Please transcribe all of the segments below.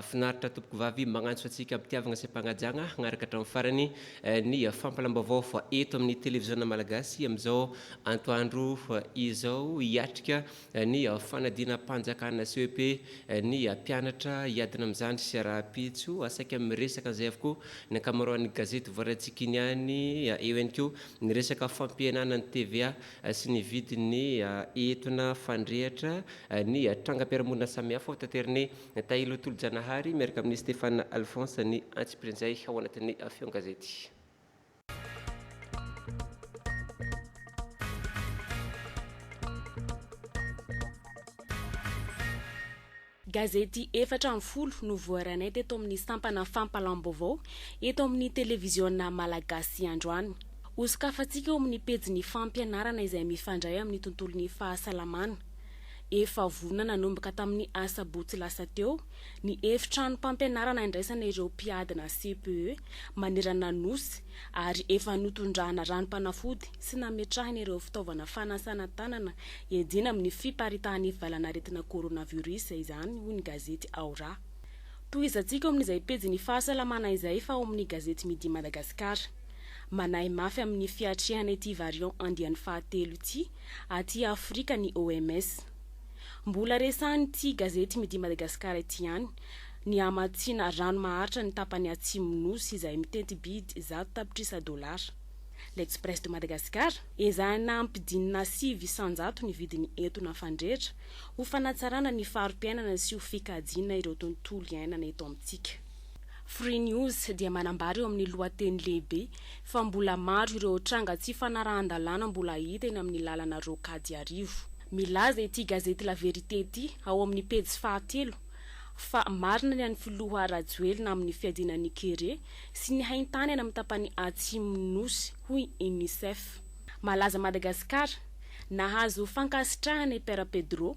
Finaritra tompoko vavy magnantso antsika ampitiavagna sy ampagnajagna hagnaraka hatramin'ny farany ny fampalam-baovao fa eto amin'ny televiziona malagasy amin'izao antoandro izao hiatrika ny fanadinam-panjakana CEP ny mpianatra hiadina amin'ny zandry sy rahampitso saika miresaka an'izay avokoa ny ankamaroan'ny gazety voarantsika iny ihany eo ihany koa ny resaka fampihenana ny TVA sy ny vidin'ny entona fandrehatra ny trangam-piarahamonina samihafa hotateriny Natahin'Ilo Tolojanahary miaraka amin'i Stéphane Alphonse ny antsipirian'izay ao anatin'ny Feon'ny Gazety. Gazety efatra ambin'ny folo no voaranay teto amin'ny sampana fampalam-baovao eto amin'ny Televiziona Malagasy androany. Hosokafantsika eo amin'ny pejin'ny fampianarana izay mifandray amin'ny tontolon'ny fahasalamana. Efa vonona nanomboka tamin'ny asabotsy lasa teo ny efitranom-pampianarana indraisana ireo mpiadina CPE manerana ny Nosy ary efa notondrahana ranom-panafody sy nametrahana ireo fitaovana fanasana tanana iadiana amin'ny fiparitahan'ny valanaretina coronavirus izany, hoy ny gazety Ao Raha. Tohizantsika ao amin'izay pejin'ny fahasalamana izay fa ao amin'ny gazety Midi Madagascar. Manahy mafy amin'ny fiatrehana ity variant andiany fahatelo ity aty Afrika ny OMS. Mbola resahan'ity gazety Midi Madagascar ity ihany ny hamatsiana rano maharitra ny tapany atsimon'ny Nosy izay miteti-bidy zato tapitrisa dolara. L'Express de Madagascar, Ezahina hampidinina sivy isan-jato ny vidin'ny entona fandrehitra ho fanatsarana ny fari-piainana sy ho fikajiana ireo tontolo iainana eto amintsika. Free News dia manambara eo amin'ny lohateny lehibe fa mbola maro ireo tranga tsy fanarahan-dalàna mbola hita eny amin'ny lalana Rocade Iarivo. Milaza ity gazety La Vérité ity ao amin'ny pejy fahatelo fa marina ny an'ny filoha Rajoelina amin'ny fiadiana ny kere sy ny haintany any amin'ny tapany atsimon'ny Nosy, hoy Unicef. Malaza Madagasikara, Nahazo fankasitrahana i Père Pedro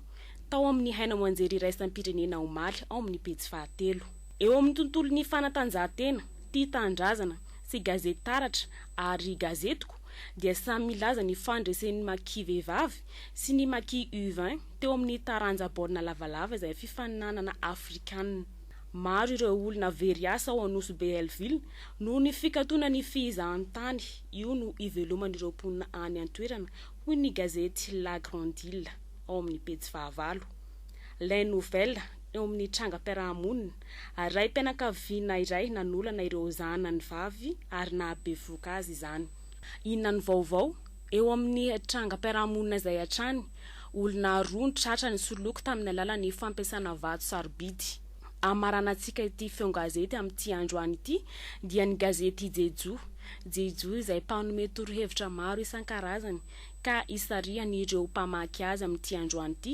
tao amin'ny haino aman-jery iraisam-pirenena omaly ao amin'ny pejy fahatelo. Eo amin'ny tontolon'ny fanatanjahantena, Tia Tanindrazana sy Gazety Taratra ary Gazetiko dia samy milaza ny fandresen'ny Maki vehivavy sy ny Maki U vingt teo amin'ny taranja baolina lavalava izay fifaninanana afrikanina. Maro ireo olona very asa ao Anosibe-Hellville noho ny fikatona ny fihizahantany, io no iveloman'ireo mponina any an-toerana, hoy ny gazety La Grande Ile ao amin'ny pejy fahavalo. Les Nouvelles. eo amin'ny trangam-piarahamonina, ary raim-pianakaviana iray nanolana ireo zanany vavy ary nahabevoka azy izany. Inona no vaovao? Eo amin'ny trangam-piarahamonina izay hatrany, olona roa no tratra nisoloky tamin'ny alalan'ny fampiasana vato sarobidy. Hamaranantsika ity feon-gazety amin'ity androany ity, dia ny gazety Jejoo. Jejoo izay mpanome torohevitra maro isan-karazany, ka hisarihany ireo mpamaky azy amin'ity androany ity,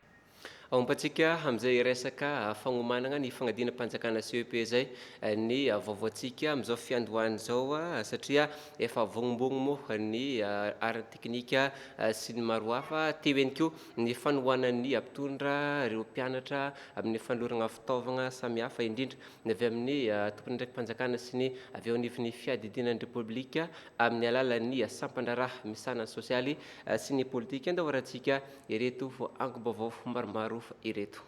Aompantsika amin'izay hiresaka fagnomanana ny fanadinam-panjakana CEP izay ny vaovaontsika amin'izao fiandohana izao satria efa vognobogno moa ny ara-teknika sy ny maro hafa. Teo ihany koa ny fanohanan'ny mpitondra ireo mpianatra amin'ny fanolorana fitaovana samihafa indrindra ny avy amin'ny tomponandraiki-panjakana sy ny avy eo anivon'ny fiadidiana ny Repoblika amin'ny alalan'ny sampan-draharaha misahana ny sosialy sy ny politika an-dawarantsika Ireto angom-baovao maromaro ireto.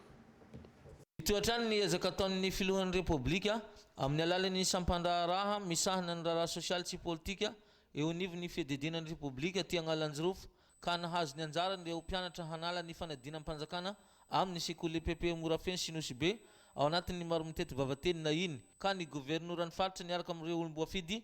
Hitohy hatrany ny ezaka ataon'ny Filohan'ny Repoblika amin'ny alalan'ny sampandraharaha misahana ny raharaha sosialy sy politika eo anivon'ny Fiadidiana ny Repoblika aty Anghalanjirofo ka nahazo ny anjarany ireo mpianatra hanala ny fanadinam-panjakana amin'ny sekoly epp Morafeno sy Nosibe ao anatin'ny maro mitety vava teny na iny ka ny governoran'ny faritra niaraka amin'ireo olom-boafidy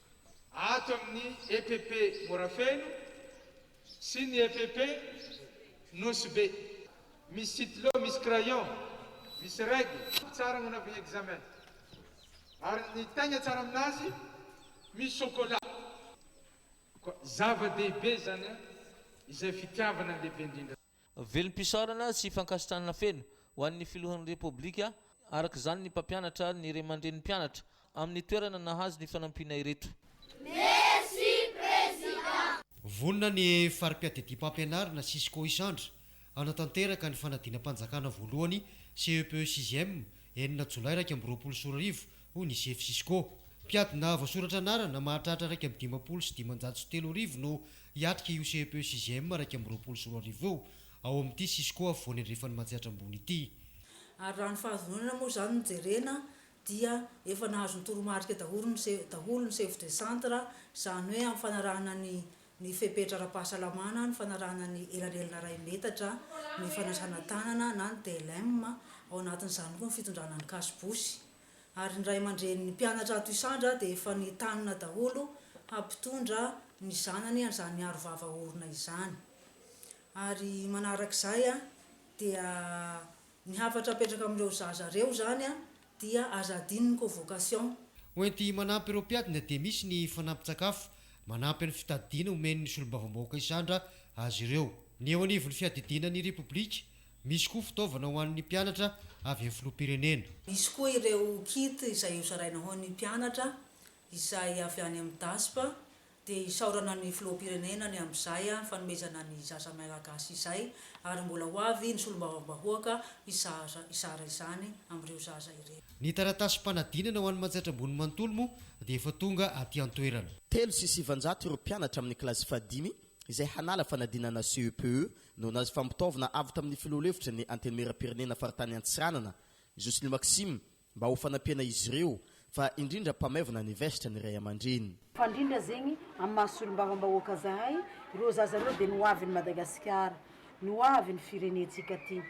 ato amin'ny epp Morafeno sy ny epp Nosy Be. Misy sitylo, misy crayon, misy règle tsara hanaovana examen ary ny tegna tsara aminazy misy chocolat koa. Zava-dehibe izany an! Izay fitiavana ny lehibe indrindra. Velom-pisaorana sy fankasitrahana feno ho an'ny Filohan'ny Repoblika, araka izany ny mpampianatra ary ny ray aman-drenin'ny mpianatra, amin'ny toerana nahazo ny fanampiana ireto. Merci Président. Vonona ny Fari-piadidiam-pampianarana Cisco Isandra hanatanteraka ny fanadinam-panjakana voalohany, CEPE sixième, enina Jolay iraika amby roapolo sy roa arivo, hoy ny sefo Cisco. Mpiadina voasoratra anarana mahatratra iraika amby dimampolo sy dimanjato sy telo arivo no hiatrika io CEP sixième iraika amby roapolo sy roa arivo io ao amin'ity Cisco afovoany andrefan'i Matsiatra Ambony ity. Ary raha ny fahadinonana moa izany no jerena dia efa nahazo ny toromarika daholo ny daholo ny chef de centre, izany hoe amin'ny fanarahana ny ny fepetra ara-pahasalamana, ny fanarahana ny elanelana iray metatra, ny fanasana tanana na ny DLM, ao anatin'izany koa ny fitondrana ny kasobosy. Ary ny ray aman-drenin'ny mpianatra ato Isandra dia efa nitanona daholo hampitondra ny zanany an'izany aro vava orona izany. Ary manarak'izay dia Ny hafatra apetraka amin'ireo zaza ireo izany dia aza adino ny convocation. Ho enti manampy ireo mpiadina dia misy ny fanampin-tsakafo manampy an'ny fitadidiana omen'ny solombavambahoaka isandra azy ireo. Ny eo anivon'ny fiadidiana ny Repoblika, misy koa fitaovana ho an'ny mpianatra avy amin'ny filoham-pirenena. Misy koa ireo kit izay hozaraina ho an'ny mpianatra izay avy any amin'ny DASP Dia isaorana ny Filoham-pirenena ny amin'izay fanomezana ny zaza Mailagasy izay ary mbola ho avy ny Solombavambahoaka hizara hizara izany amin'ireo zaza ireo. Ny taratasim-panadinana ho an'i Manjaitra Ambony manontolo moa dia efa tonga aty an-toerana. Telo sy sivinjato ireo mpianatra amin'ny kilasy fahadimy izay hanala fanadinana CEPE noho ny hazofam-pitaovana avy tamin'ny Filoha lefitry ny Antenimierampirenena faritany Antsiranana, Josely Maxime, Mba ho fanampiana izy ireo, fa indrindra mpamaivana ny vestra ny ray aman-dreny. Fa indrindra zegny amin'ny maha solombavambahoaka zahay, reo zaza reo dia ny hoavin'i Madagasikara, ny hoavin'ny firenentsika ty,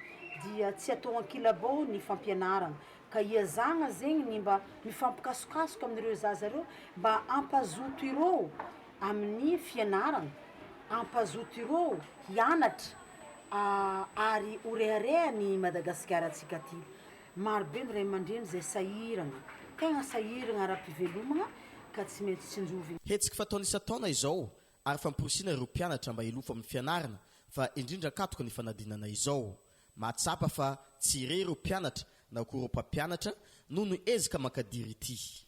dia tsy atao ankilabao ny fampianarana, ka iazagna zegny ny mba mifampikasokasoka amin'ireo zaza reo mba hampazoto ireo amin'ny fianarana, hampazoto ireo hianatra ary ho reharehan'i Madagasikara antsika ty. Marobe ny ray aman-dreny izay sahirana, tegna sahirana ara-pivelomagna ka tsy maintsy tsinjovigna. Hetsika fataony isan-taona izao ary famporisihina ireo mpianatra mba hilofo amin'ny fianarana fa indrindra an-katoky ny fanadinana izao. Mahatsapa fa tsy re ireo mpianatra na koa ireo mpampianatra noho ny ezaka mankadiry ity.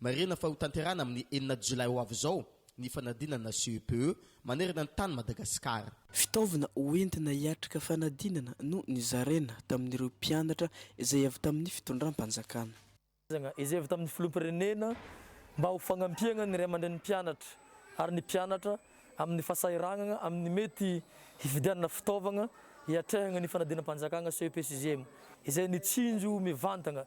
Marihina fa hotanterahina amin'ny enina jolay ho avy izao ny fanadinana CEPE manerana ny tany Madagasikara. Fitaovana hoentina hiatrika fanadinana no nizaraina tamin'ireo mpianatra izay avy tamin'ny fitondram-panjakana. izay avy tamin'ny filoham-pirenena mba ho fagnampiagna ny ray aman-drenin'ny mpianatra ary ny mpianatra amin'ny fasahiragnagna amin'ny mety hividianana fitaovagna hiatrehagna ny fanadinam-panjakagna CEPE sixième izay nitsinjo mivantagna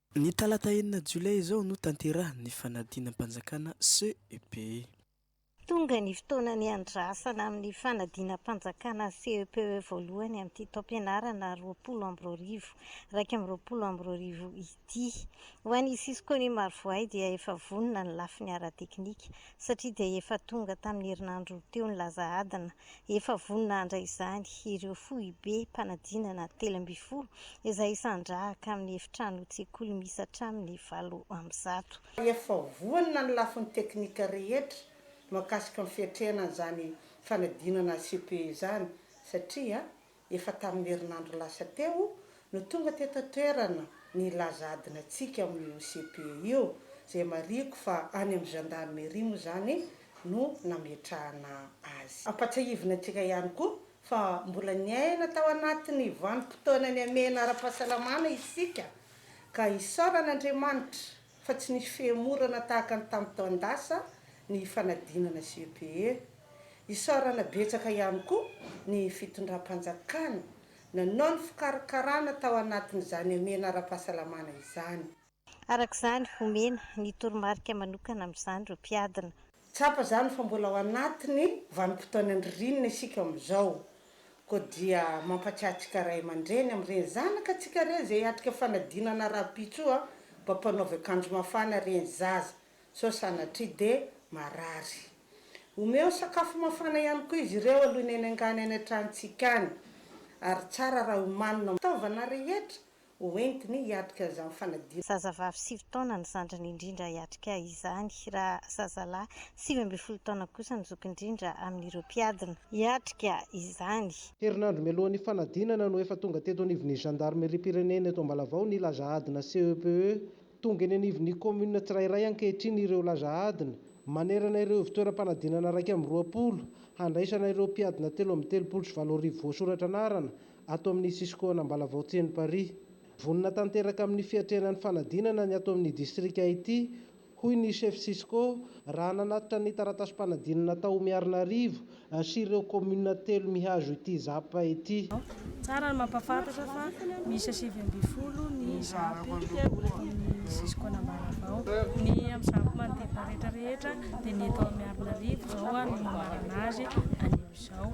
Ny talata enina jolay izao no tanterahiny ny fanadinam-panjakana CEPE. Tonga ny fotoana niandrasana amin'ny fanadinam-panjakana CEPE voalohany amin'ity taom-pianarana roapolo amby roa arivo, iraika amby roapolo amby roa arivo ity. Ho an'i Cisco ny Marovoay dia efa vonona ny lafiny ara-teknika, satria dia efa tonga tamin'ny herinandro teo ny laza adina Efa vonona handray izany ireo foibe mpanadinana telo ambin'ny folo izay hisandrahaka amin'ny efitranon-tsekoly misy hatramin'ny valo amby zato. Efa vonona ny lafiny teknika rehetra mahakasika ny fiatrehana an'izany fanadinana CPE izany satria Efa tamin'ny herinandro lasa teo no tonga teto an-toerana ny hilaza adina antsika ao amin'io CPE io, izay marihiko fa any amin'ny Gendarmerie moa izany no nametrahana azy. Ampahatsiahivina antsika ihany koa fa mbola niaina tao anatin'ny vanim-potoana nihamehana ara-pahasalamana isika ka isaorana Andriamanitra fa tsy nisy fihemorana tahaka ny tamin'ny taon-dasa ny hifanadinana sy UPE. Isaorana betsaka ihany koa ny fitondram-panjakana nanao ny fikarakarana tao anatin'izany hamehana ara-pahasalamana izany. Araka izany, omena ny toromarika manokana amin'izany ireo mpiadina. Tsapa izany fa mbola ao anatin'ny vanim-potoanan'ny ririnina isika amin'izao, koa dia mampatsiahy antsika ray aman-dreny amin'ireny zanakatsika ireny izay hiatrika fanadinana rahampitsoa mba mpanaovy akanjo mafana ireny zaza, sao sanatria dia marary. Omeo sakafo mafana ihany koa izy ireo alohan'ny hanaingàny any an-tranontsika any, ary tsara raha omanina ny fitaovana rehetra ho entiny hiatrika izany fanadinana. Zazavavy sivy taona ny zandriny indrindra hiatrika izany, raha zazalahy sivy ambin'ny folo taona kosa ny zoky indrindra amin'ireo mpiadina hiatrika izany. Herinandro mialohan'ny fanadinana no efa tonga teto anivon'ny Zandarimeriam-pirenena eto Ambalavao ny laza adina CEPE. Tonga eny anivon'ny kaominina tsirairay ankehitriny ireo laza adina, manerana ireo ivontoeram-panadinana iraika amby roapolo, handraisana ireo mpiadina telo amby telopolo sy valo arivo voasoratra anarana ato amin'ny Cisco-na Ambalavao Tseno Paris. Vonona tanteraka amin'ny fiatrehana ny fanadinana ny ato amin'ny distrika ity, hoy ny Chef Cisco, raha nanatitra ny taratasim-panadinana tao Miarinarivo sy ireo kaominina telo mihazo ity Zap ity. Tsara ny mampahafantatra fa miisa sivy ambin'ny folo ny Zap ato amin'ny Cisco-na Ambalavao. Ny amin'ny Zap manodidina rehetra rehetra dia ny eto Miarinarivo izao no manana azy anio izao.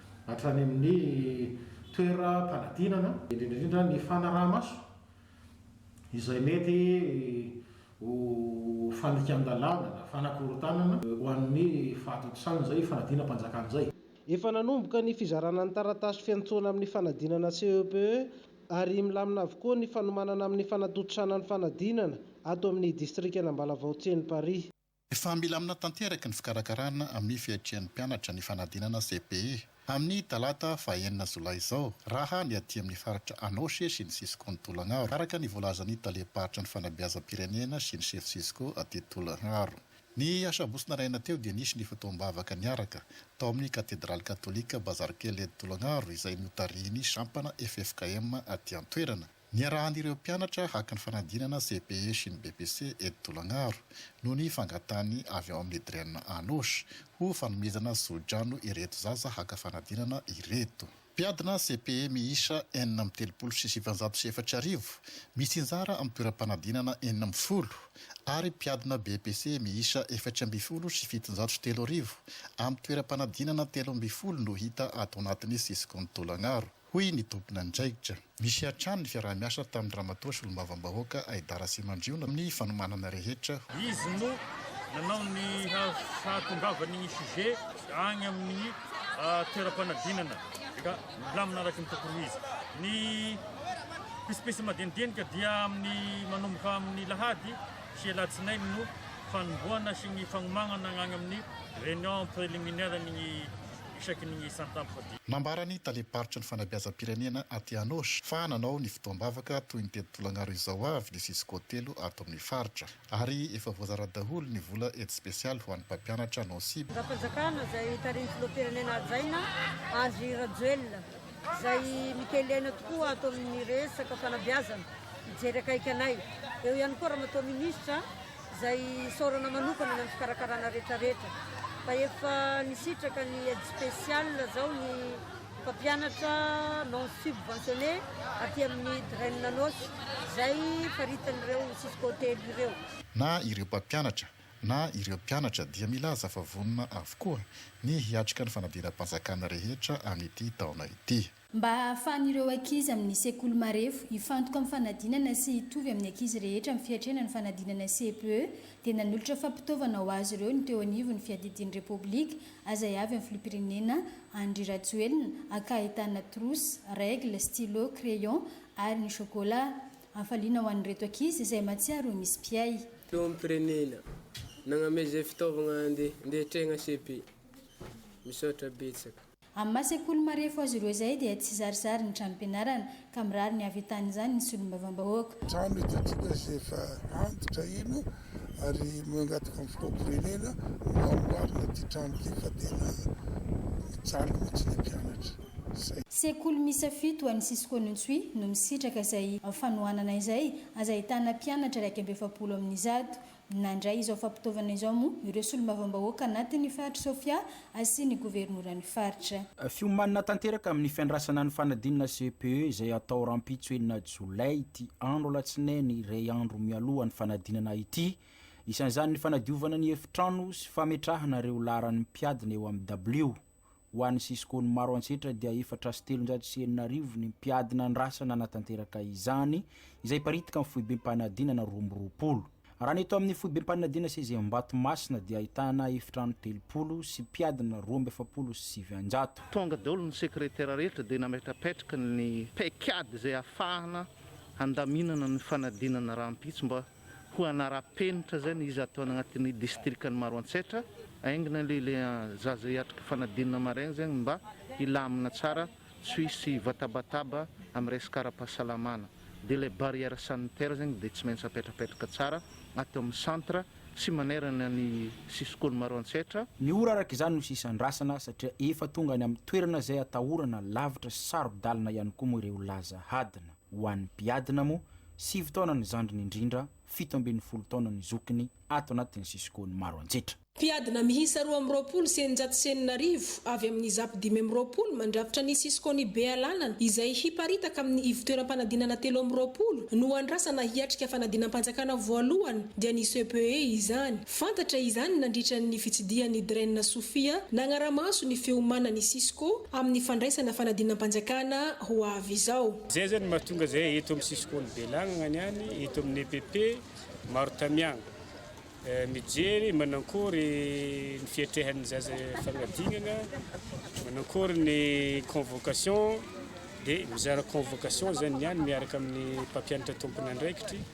hatrany amin'ny toeram-panadinana, indrindra indrindra ny fanaraha-maso izay mety ho fanikan-dalàna na fanakorontanana ho an'ny fahatontosana izay fanadinam-panjakana izay. Efa nanomboka ny fizarana ny taratasy fiantsoana amin'ny fanadinana CEPE ary milamina avokoa ny fanomanana amin'ny fanatontosana ny fanadinana ato amin'ny distrikan'Ambalavao Tsieninparihy. Efa milamina tanteraka ny fikarakarana amin'ny fiatrian'ny mpianatra ny fanadinana cepe amin'ny talata fahenina jolay izao raha ny aty amin'ny faritra Anôche sy ny Cisco ny Tolagnaro, araka ny voalazan'ny talem-paritra ny fanabeazam-pirenena sy ny sefo Cisco aty Tolagnaro. Ny asabotsy naraina teo dia nisy ny fotoam-bavaka niaraka tao amin'ny katedraly katolika Bazarikely eto Tolagnaro izay notarihin'ny sampana ffkm aty an-toerana. Niarahan'ireo mpianatra haka ny fanadinana CPE sy ny BEPC eto Tolagnaro noho ny fangatahany avy ao amin'ny Dren Anosh ho fanomezana zohidrano ireto zaza haka fanadinana ireto. Mpiadina CPE miisa enina amby telopolo sy sivinjato sy efatra arivo misy anjara amin'ny toeram-panadinana enina amby folo ary mpiadina BEPC miisa efatra ambin'ny folo sy fitonjato sy telo arivo amin'ny toeram-panadinana telo ambin'ny folo no hita ato anatin'ny Ciscon Tolagnaro. hoy ny tomponandraikitra. Nisy hatrany ny fiaraha-miasa tamin'ny Ramatoa Solombavambahoaka Aida Rasimandriona amin'ny fanomanana rehetra, hoy. Izy no nanao ny hahatongavan'ny ny sujet any amin'ny toeram-panadinana ka milamina araka ny tokony ho izy. Ny pisipisy madinidinika dia amin'ny manomboka amin'ny lahady sy alatsinainy no fanombohana sy ny fagnomagnana agny amin'ny réunion préliminaire ny isaky ny isan-tapitrisa dimampolo. Nambara ny talem-paritry ny fanabeazam-pirenena aty Anôsy fa nanao ny fotoam-bavaka toy ny tety tolagnaroy izao avy ny Cisco telo ato amin'ny faritra ary efa voazara daholo ny vola aide spéciale ho an'ny mpampianatra Nôsy. Andrimpanjakana izay tarihin'ny filoham-pirenena hajaina Andry Rajoelina izay mikelena tokoa ato amin'ny resaka fanabeazana hijery akaiky anay. Eo ihany koa Ramatoa Minisitra. izay isaorana manokana ny amin'ny fikarakarana rehetrarehetra fa efa nisitraka ny aide spéciale izao ny mpampianatra non subventionné aty amin'ny Drain Anôsy izay faritan'ireo Cisco telo ireo. Na ireo mpampianatra na ireo mpianatra dia milaza fa vonona avokoa ny hiatrika ny fanadiram-panjakana rehetra amin'ity taona ity. mba hahafahan'ireo ankizy amin'ny sekoly marefo hifantoka amin'ny fanadinana sy hitovy amin'ny ankizy rehetra amin'ny fiatrehana ny fanadinana CPE, dia nanolotra fampitaovana ho azy ireo ny teo anivon'ny Fiadidian'ny Repoblika azay avy amin'ny Filoham-pirenena Andry Rajoelina, aka ahitana trousse, règle, stylo, crayon ary ny chocolat. Hafaliana ho an'ireto ankizy izay mahatsiaro ho misy mpiahy. Filoham-pirenena nagname izay fitaovagna andeha andeha atreagna CPE. Misaotra betsaka. Amin'ny maha sekoly marefo azy ireo izay dia tsy zarizary ny tranom-pianarana ka mirary ny hahavitan'izany ny solombavambahoaka. Trano hitantsika izay efa antitra iny ary mangataka amin'ny filoham-pirenena mba hamboarina ity trano ity fa tena mijaly mihitsy ny mpianatra. Izay. Sekoly miisa fito any Cisco Ntsui no misitraka izay fanohanana izay, aza ahitana mpianatra iraika amby efapolo amin'ny zato. Nandray izao fampitaovana izao moa ireo solombavambahoaka anatin'ny faritr'i Sofia sy ny governoran'ny faritra. Fiomanana tanteraka amin'ny fiandrasana ny fanadinana CPE izay hatao rahampitso enina jolay ity andro alatsinainy iray andro mialoha ny fanadinana ity, isan'izany ny fanadiovana ny efitrano sy fametrahana ireo laharan'ny mpiadina eo amin'ny dabilio. Ho an'ny Cisco ny maro antsetra dia efatra sy telonjato sy enina arivo ny mpiady nandrasa nanatanteraka izany, izay paritika amin'ny foibem-panadinana roa amby roapolo. Raha ny eto amin'ny foibem-panadinana seza Ambatomasina dia ahitana efitrano telopolo sy mpiadina roa amby efapolo sy sivinjato. Tonga daholo ny sekretera rehetra dia nametrapetraka ny paikady izay ahafahana handaminana ny fanadinana rahampitso mba Ho hanara-penitra izay ny iza atao any anatin'ny distrikan'i Maroantsetra, aingina aloha ilay zaza hiatrika fanadinana maraina zegny mba hilamina tsara, tsy ho hisy vatabataba amin'ny resaka ara-pahasalamana. Dia ilay barrière sanitaire zegny dia tsy maintsy apetrapetraka tsara ato amin'ny centre sy manerana ny sisin-kony Maroantsetra. Ny ora araka izany no sisa andrasana satria efa tonga any amin'ny toerana izay atahorana lavitra sy saro-dalana ihany koa moa ireo laza hadina. Ho an'ny mpiadina moa, sivy taona ny zandriny indrindra, fito ambin'ny folo taona ny zokiny ato anatin'ny sisin-kony maro anjetra. Mpiadina miisa roa amby roapolo sy eninjato sy enina arivo avy amin'ny Izap dimy amby roapolo mandrafitra ny sisin-kony Bealanana izay hiparitaka amin'ny ivontoeram-panadinana telo amby roapolo no andrasana hiatrika fanadinam-panjakana voalohany dia ny CPE izany. Fantatra izany nandritra ny fitsidihan'i Dren Sofia nagnara-maso ny fiomanan'i Cisco amin'ny fandraisana fanadinam-panjakana ho avy izao. Izay izany no mahatonga izay eto amin'ny Cisco ny belagnagna ny any, eto amin'ny EPP maro tamiagna mijery manankory ny fiatrehan'ny zaza fagnadinagna, manankory ny convocation dia mizara convocation izany ny any miaraka amin'ny mpampianatra tompon'andraikitry.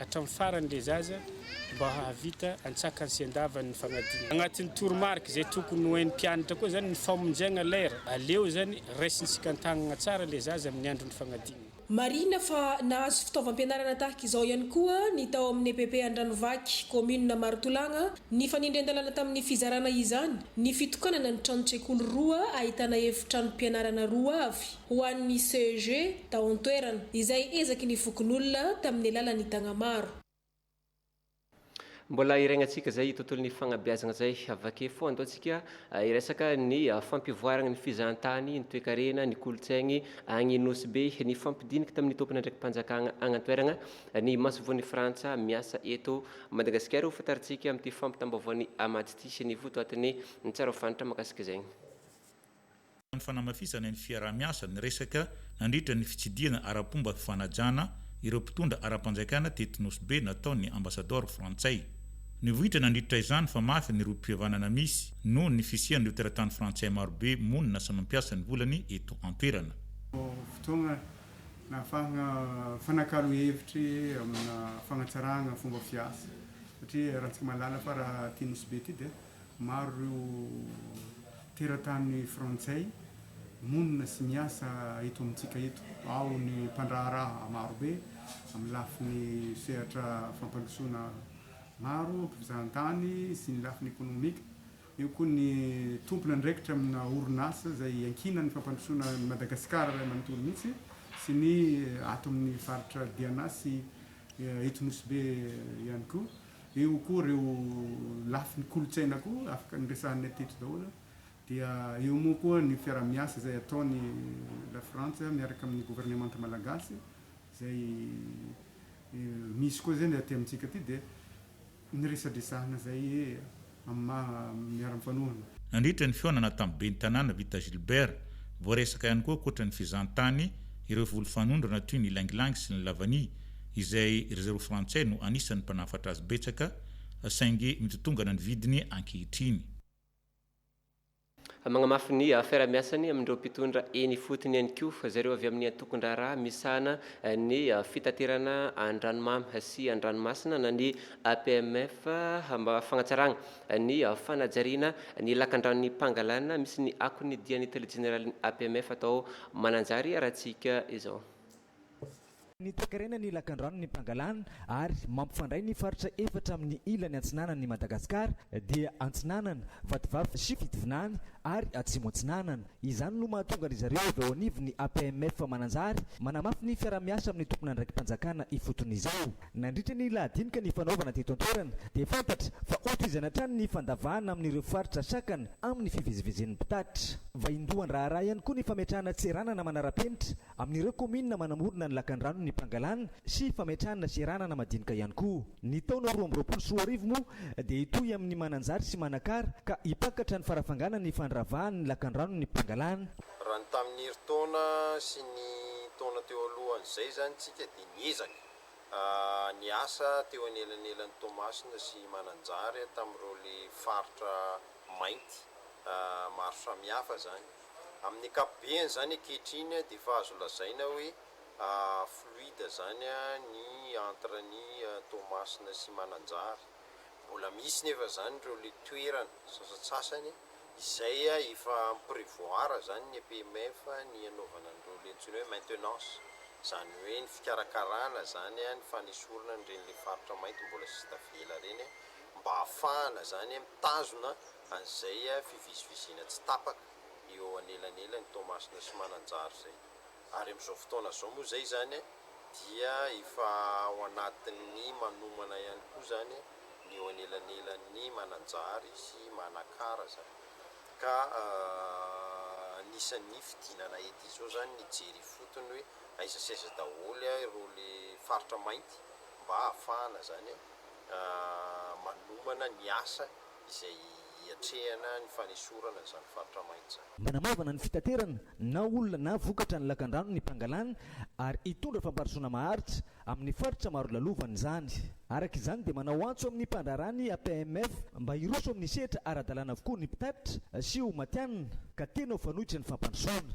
hatramin'ny farany ilay zaza mba hahavita antsakany sy andavany ny fanadinana. Agnatin'ny toromarika izay tokony ho hain'ny mpianatra koa izany ny famonjegna lera. Aleo izany raisintsika an-tagnana tsara ilay zaza amin'ny andron'ny fagnadinana. Marihina fa nahazo fitaovam-pianarana tahaka izao ihany koa ny tao amin'ny EPP Andranovaky, kaominina Marotolagna. Nifanindrian-dalàna tamin'ny fizarana izany ny fitokanana ny tranon-tsekoly roa ahitana efitranom-pianarana roa avy. ho an'ny CEG tao an-toerana, izay ezaky ny fokonolona tamin'ny alalan'ny Tagnamaro. Mbola hireignan-tsika izay tontolon'ny fagnabeazagna izay. Vake fo andao tsika hiresaka ny fampivoaragna ny fizahan-tany, ny toekarena, ny kolontsaigny agny Nosy Be, ny fampidiniky tamin'ny tompon'andraiki-panjakagna agny an-toeragna, ny masoivohon'i Frantsa miasa eto Madagasikara. Ho fantarintsika amin'ity fampitam-baovaon'i Amady ity sy ny votoatin'ny tsara fantatra mahakasika izay. Tao amin'ny fanamafisana ny fiaraha-miasa niresaka nandritra ny fitsidihana ara-pomba fifanajana ireo mpitondra ara-panjakana teto Nosy Be nataon' ny Ambasadaoro frantsay. Nivoitra nandritra izany fa mafy ny rohim-pihavanana misy noho ny fisian'ireo teratany frantsay maro be monina sy mampiasa ny volany eto an-toerana. Fotoana nahafahana mifanakalo hevitra eo amina fanatsarana fomba fiasa satria raha antsika mahalala fa raha aty Nosy Be aty dia Maro ireo teratany frantsay monina sy miasa eto amintsika eto. Ao ny mpandraharaha marobe amin'ny lafiny sehatra fampandrosoana maro, mpizahan-tany sy ny lafiny ekonomika. Eo koa ny tompon'andraikitra amina orinasa izay iankinan'ny fampandrosoana an'i Madagasikara iray manontolo mihitsy sy ny ato amin'ny faritra Diana sy eto Nosy Be ihany koa. Eo koa ireo lafiny kolontsaina koa afaka noresahina teto daholo. Dia eo moa koa ny fiaraha-miasa izay ataon'i Lafrantsa miaraka amin'ny governemanta malagasy izay misy koa izay ny aty amintsika aty dia ny resadresahana izay. amin'ny maha miara-mifanohana. Nandritra ny fihaonana tamin'ny ben'ny tanàna Vita Gilbert, voaresaka ihany koa ankoatra ny fizahantany ireo voly fanondrana toy ny ylang-ylang sy ny lavany izay ry zareo frantsay no anisan'ny mpanafatra azy betsaka saingy mitotongana ny vidiny ankehitriny. Magnamafy ny fiarahamiasany amin'ireo mpitondra eny ifotony ihany koa zareo avy amin'ny antokon-draharaha misahana ny fitaterana an-dranomamy sy an-dranomasina na ny APMF mba fagnatsaragna ny fanajariana ny lakandranon'ny Pangalana misy ny akon'ny dian'ny tale jeneralin'ny APMF atao Mananjary Ratsika izao. Ny toekarena ny lakandrano ny mpangalana ary mampifandray ny faritra efatra amin'ny ilany antsinanan'i Madagasikara dia Antsinanana, Vatovavy sy Fitovinany ary Atsimo Atsinanana. Izany no mahatonga ry zareo avy ao anivon'ny APMF Mananjary manamafy ny fiaraha-miasa amin'ny tompon'andraiki-panjakana ifotony izao. Nandritra ny lahadinika nifanaovana teto an-toerana dia fantatra fa hotohizana hatrany ny fandavahana amin'ireo faritra sakana amin'ny fivezivezen'ny mpitatitra. Vaindohan-draharaha ihany koa ny fametrahana tseranana manara-penitra Amin'ireo kaominina manamorona ny lakandrano ny mpangalana sy fametrahana seranana madinika ihany koa. Ny taona roa amby roapolo sy roa arivo moa dia hitohy amin'ny Mananjary sy Manakara ka hipaikatra ny farafangana ny fandravahana ny lakandrano ny mpangalana. Raha ny tamin'ny herintaona sy ny taona teo alohan'izay izany tsika dia niezaka niasa teo anelanelan'i Toamasina sy Mananjary tamin'ireo le faritra mainty maro samihafa izany. Amin'ny ankapobeny izany ankehitriny dia efa azo lazaina hoe fluide izany ny entre an'i Toamasina sy Mananjary. Mbola misy nefa izany ireo ilay toerana sasatsasany izay efa mi-prevoir izany ny EPMF ny hanaovana an'ireo ilay antsoina hoe maintenance, izany hoe ny fikarakarana izany ny fanesorana an'ireny ilay faritra mainty mbola sisa tavela ireny mba hahafahana izany mitazona An'izay fiviziviziana tsy tapaka eo anelanelan'i Toamasina sy Mananjary izay. Ary amin'izao fotoana izao moa izay izany dia efa ao anatin'ny manomana ihany koa izany ny eo anelanelan'i Mananjary sy Manakara izany. Ka anisan'ny fidinana ety izao izany ny hijery ifotony hoe aiza sy aiza daholo ireo ilay faritra mainty mba hahafahana izany manomana ny asa izay hiatrehana ny fanesorana izany faritra mainty izany. Manamaivana ny fitaterana na olona na vokatra ny lakandrano ny mpangalana ary hitondra famparisoana maharitra amin'ny faritra maro lalovany izany. Araka izany dia manao antso amin'ny mpandraharaha ny APMF mba hiroso amin'ny sehatra ara-dalàna avokoa ny mpitatitra sy ho matihanina ka tena ho fanoitra ny fampandrosoana.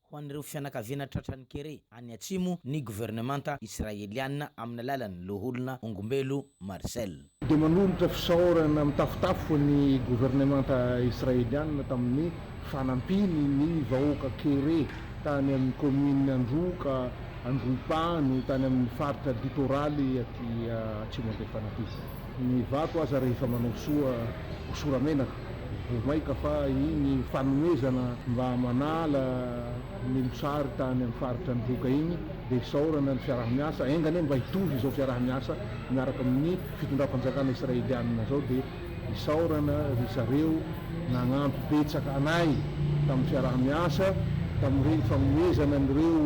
ho an'ireo fianakaviana tratran'ny kere any atsimo ny governemanta Israeliana amin'ny alalan'ny loholona Ongombelo Marcel. Dia manolotra fisaorana mitafotafo ny governemanta Israeliana tamin'ny fanampiany ny vahoaka kere tany amin'ny kaominina Androka, Androhipano, tany amin'ny faritra litoraly aty Atsimo Andrefan'Ampita. Ny vato aza rehefa manao soa hosora menaka, voa maika fa iny fanomezana mba manala ny mosary tany amin'ny faritra nivoka iny dia isaorana ny fiaraha-miasa, enga anie mba hitovy izao fiaraha-miasa miaraka amin'ny fitondram-panjakana Israelianina izao dia isaorana ry zareo nagnampy betsaka anay tamin'ny fiaraha-miasa tamin'ireny fanomezana an'ireo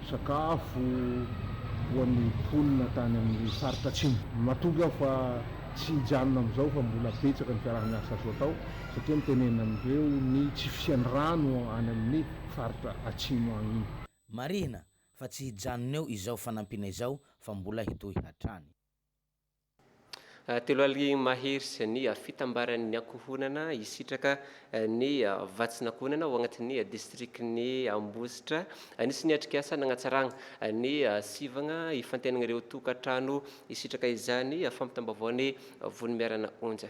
sakafo ho an'ny mponina tany amin'ny faritra Atsimo. Matoky aho fa tsy hijanona amin'izao fa mbola betsaka ny fiaraha-miasa azo atao satria mitenena an'ireo ny tsy fisian'ny rano any amin'ny faritra Atsimo any iny. Marihina fa tsy hijanona eo izao fanampiana izao fa mbola hitohy hatrany. Telo aly mahery sy ny fitambaran'ny ankohonana hisitraka ny vatsin'ankohonana ao anatin'ny distrikan'i Ambositra. Anisan'ny atrikasa nanatsarana ny sivana ifantenana ireo tokantrano hisitraka izany fampitam-baovao ny Vonimiarana Onja.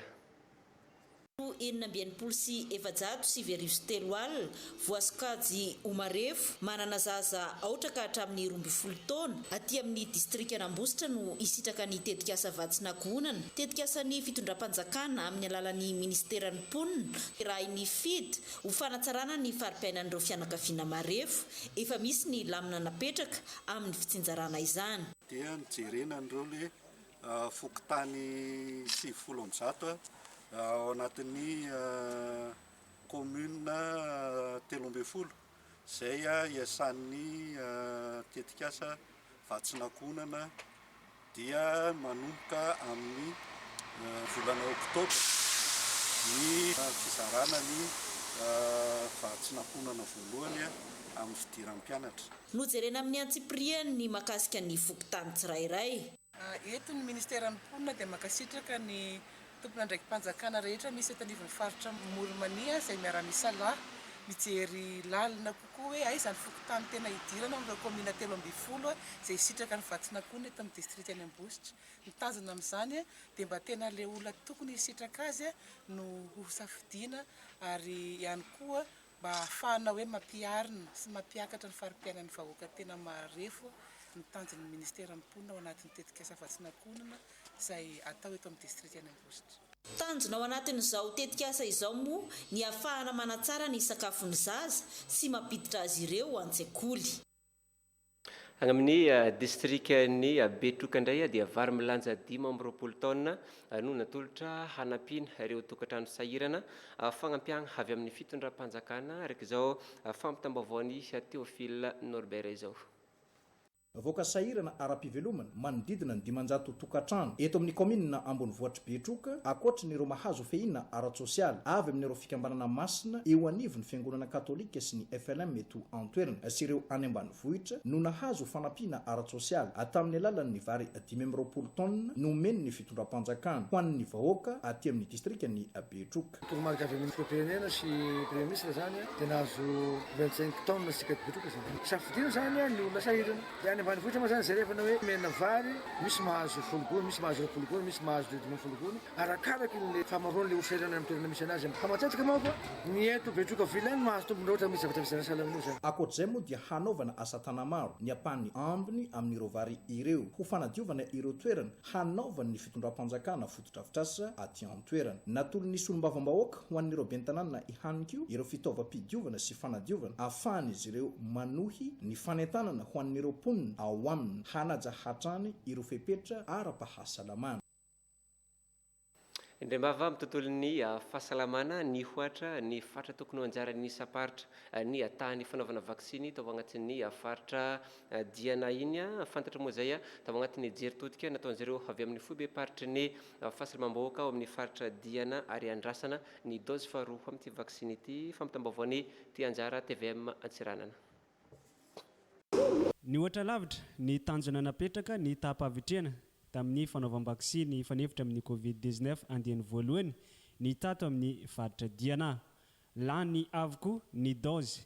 Andro enina amby enimpolo sy efajato sivy arivo sy telo alina, voasokajy ho marefo, manana zaza aotra ka hatramin'ny roa ambin'ny folo taona, aty amin'ny distrikan'Ambositra no hisitraka ny tetikasa Vatsin'Ankohonana, tetikasan'ny fitondram-panjakana amin'ny alalan'ny minisiteran'ny Mponina, rahin'ny FID, ho fanatsarana ny fari-piainan'ireo fianakaviana marefo, efa misy ny lamina napetraka amin'ny fitsinjarana izany. Dia ny jerena an'ireo le fokontany sivifolo amby zato ao anatin'ny commune telo ambin'ny folo izay iasan'ny tetikasa vatsin'ankohonana dia manomboka amin'ny volana oktobra ny fizarana ny vatsin'ankohonana voalohany amin'ny fidiram-pianatra. Nojerena amin'ny antsipiriany ny mahakasika ny fokontany tsirairay. Eto ny Ministeran'ny Mponina dia mankasitraka ny tompon'andraiki-panjakana rehetra misy eto anivon'ny faritra Moulmania izay miara-misalahy mijery lalina kokoa hoe aiza ny fokontany tena hidirana amin'ireo kaomina telo ambin'ny folo izay hisitraka ny vatsin'akohony eto amin'ny distrika any Ambositra. Ny tanjona amin'izany dia mba tena ilay olona tokony hisitraka azy no hosafidiana ary ihany koa mba hahafahana hoe mampiharina sy mampiakatra ny fari-piainan'ny vahoaka tena marefo ny tanjon'ny Ministeran'ny Mponina ao anatin'ny tetikasa Vatsinakonana izay atao eto amin'ny Distrikan'i Ambositra. Tanjona ao anatin'izao tetikasa izao moa ny hahafahana manatsara ny sakafon'ny zaza sy mampiditra azy ireo an-tsekoly. Any amin'ny distrikan'i Betroka indray dia vary milanja dimy amby roapolo taonina no natolotra hanampiana ireo tokantrano sahirana, fagnampiagna avy amin'ny fitondram-panjakana araka izao fampitam-baovaon'i Théophile Norbert izao. Vahoaka sahirana ara-pivelomana manodidina ny dimanjato tokantrano eto amin'ny kaominina ambonivohitr'i Betroka, ankoatry ny ireo mahazo fehiana ara-tsosialy avy amin' ireo fikambanana masina eo anivon'ny Fiangonana Katolika sy ny FLM eto an-toerana sy ireo any ambanivohitra no nahazo fanampiana ara-tsosialy tamin'ny alalan'ny vary dimy amby roapolo taonina nomen'ny fitondram-panjakana ho an'ny vahoaka aty amin'ny distrikan'i Betroka. Toromarika avy amin'ny Filoham-pirenena sy Praiministra izany dia nahazo vingt cinq tonnes isika mpikotroka izany. Safidiana izany ny olona sahirana. Dia any ambanivohitra moa izany jerevana hoe omena vary, misy mahazo folo gony, misy mahazo roapolo gony, misy mahazo dimy ambin'ny folo gony, arakaraka ilay fahamaroan'ilay olona sahirana any amin'ny toerana misy anazy. Fa matetika manko ny eto Betroka Ville no mahazo tombony raha ohatra misy zavatra vidiana sahala amin'io izany. Ankoatr'izay moa dia hanaovana asa tanamaro ny ampahany ambiny amin'ireo vary ireo ho fanadiovana ireo toerana hanaovan'ny fitondram-panjakana fotodrafitrasa aty an-toerana. Natolon'ny solombavambahoaka ho an'ireo ben'ny tanàna ihany koa ireo fitaovam-pidiovana sy fanadiovana ahafahan'izy ireo manohy ny fanentanana ho an'ireo mponina ao aminy hanaja hatrany ireo fepetra ara-pahasalamana. Indram-bava amin'ny tontolon'ny fahasalamana nihoatra ny faritra tokony ho anjaran'ny isam-paritra ny tahan'ny fanaovana vaksiny tao anatin'ny faritra Dia na iny a! Fantatra moa izay a! Tao anatin'ny hejeritodika nataon'izy ireo avy amin'ny foibem-paritry ny fahasalamam-bahoaka ao amin'ny faritra Diana ary andrasana ny daozy faharoa amin'ity vaksiny ity, fampitam-baovaon'i Tia Anjara, tvm Antsiranana. Nihoatra lavitra ny tanjona napetraka ny taham-pahavitrihana tamin'ny fanaovam-baksiny hifanefitra amin'ny Covid dix neuf andiany voalohany ny tato amin'ny faritra Diana. Lany avokoa ny daozy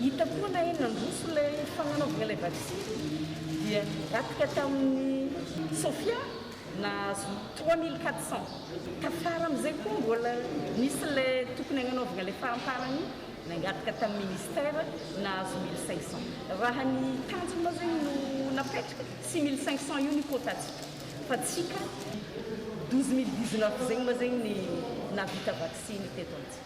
Hita koa na eny nandroso ilay fananaovana ilay vaksiny dia niatrika tamin'ny Sofia nahazo trois mille quatre cents. Tafara amin'izay koa mbola nisy ilay tokony hagnanaovana ilay faramparany nangataka tamin'ny ministère nahazo mille cinq cents. Raha ny tanjona moa zegny no napetraka tsy mille cinq cents io ny quota-tsika fa tsika douze mille dix-neuf zegny moa zegny ny nahavita vaksiny teto amintsika.